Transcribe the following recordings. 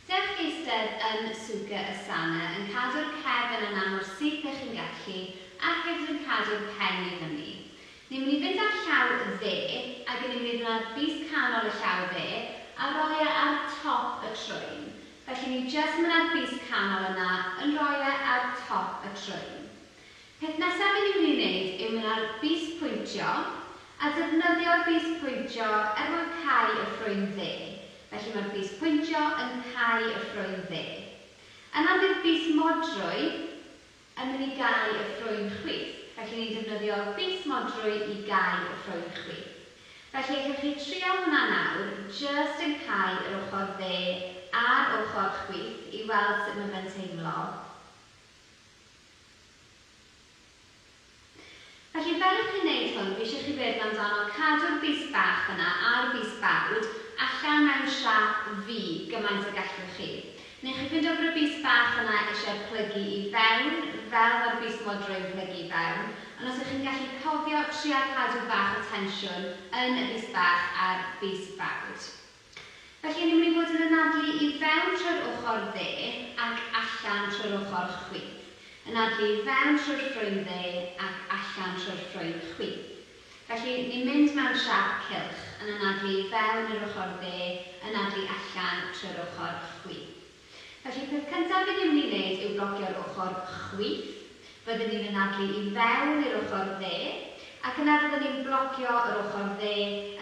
Dewch eistedd yn Suga y Sana yn cadw'r cefn yna mor syth dych chi'n gallu ac hefyd yn cadw'r pen i fyny. Ni'n mynd i fynd â'r llaw dde ac yn mynd i ddynnu'r bys canol y llaw dde a roi e ar top y trwyn. Felly ni jyst yn mynd â'r bys canol yna yn roi e ar top y trwyn. Peth nesaf i ni'n ei wneud yw mynd ar Bys Pwyntio a defnyddio Bys Pwyntio er mwyn cau y ffrwyn dde. Felly mae'r Bys Pwyntio yn cau y ffrwyn dde. Yna bydd Bys Modrwy yn mynd i gau y ffrwyn chwith. Felly ni'n defnyddio Bys Modrwy i gau y ffrwyn chwith. Felly allwch chi trial hwnna nawr, jyst yn cau yr ochr dde a'r ochr chwith i weld sut mae fe'n teimlo. Felly, fel y chi'n neud hwn, fi isio chi feddwl amdano cadw'r bys bach yna a'r bys bawd allan mewn siâp V gymaint a gallwch chi. Neu chi fyn'do bod y bys bach yna isie plygu i fewn, fel mae'r bys modro yn plygu i fewn, ond os ych chi'n gallu cofio, trial cadw bach o tensiwn yn y bys bach a'r bys bawd. Felly, ni'n mynd i fod yn anadlu i fewn trwy'r ochr dde ac allan trwy'r ochr chwith. Anadlu i fewn trwy'r ffrwy'n dde ac allan trwy'r ffrwy'n chwith. Felly, ni'n mynd mewn siâp cylch, yn anadlu i fewn i'r ochr dde, anadlu allan trwy'r ochr chwith. Felly, peth cyntaf i rywun ei wneud yw blocio'r ochr chwith. Fyddwn ni'n anadlu i fewn i'r ochr dde, ac yna fyddwn ni'n blocio yr ochr dde,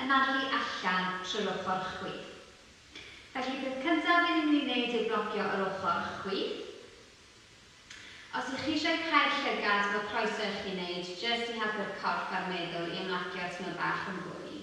anadlu allan trwy'r ochr chwith. Felly, peth cyntaf i rywun ei wneud yw blocio yr ochr chwith. Os ych chi eisiau cau'r llygad, mae croeso i chi wneud jyst i helpu'r corff a'r meddwl i ymlacio tymor bach yn fwy.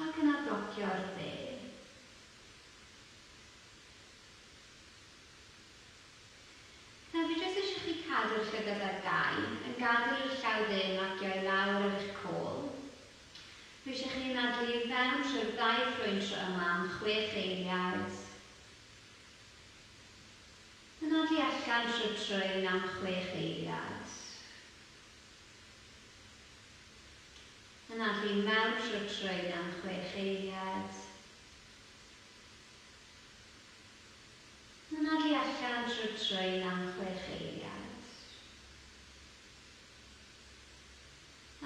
Ac yna docio'r dde. Nawr fi jyst eisiau chi cadw'r llygad ar gau, yn gadael i'r llaw dde magio i lawr ar eich côl. Dwi eisiau chi anadlu i fewn trwy'r ddau ffrwyn tro yma am chwech eiliad. Anadlu allan trwy'r trwyn am chwech eiliad. Yna bu mewn rhutrwyn am chwech eiliad. Yna bu allan rhutrwyn am chwech eiliad.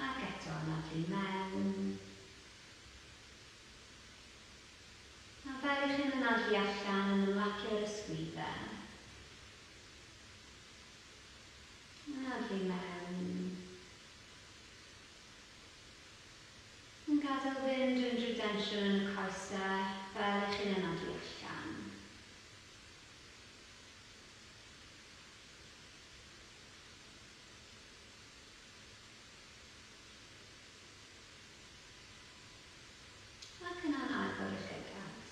Ac eto yna bu mewn. A fel i chi'n yna bu allan yn ymlacio'r ysgwyddau. Yna bu mewn. Yn gadael fynd unrhyw densiwn yn y coesau fel i chi'n anafu allan. Ac yna'n agor eich llygad.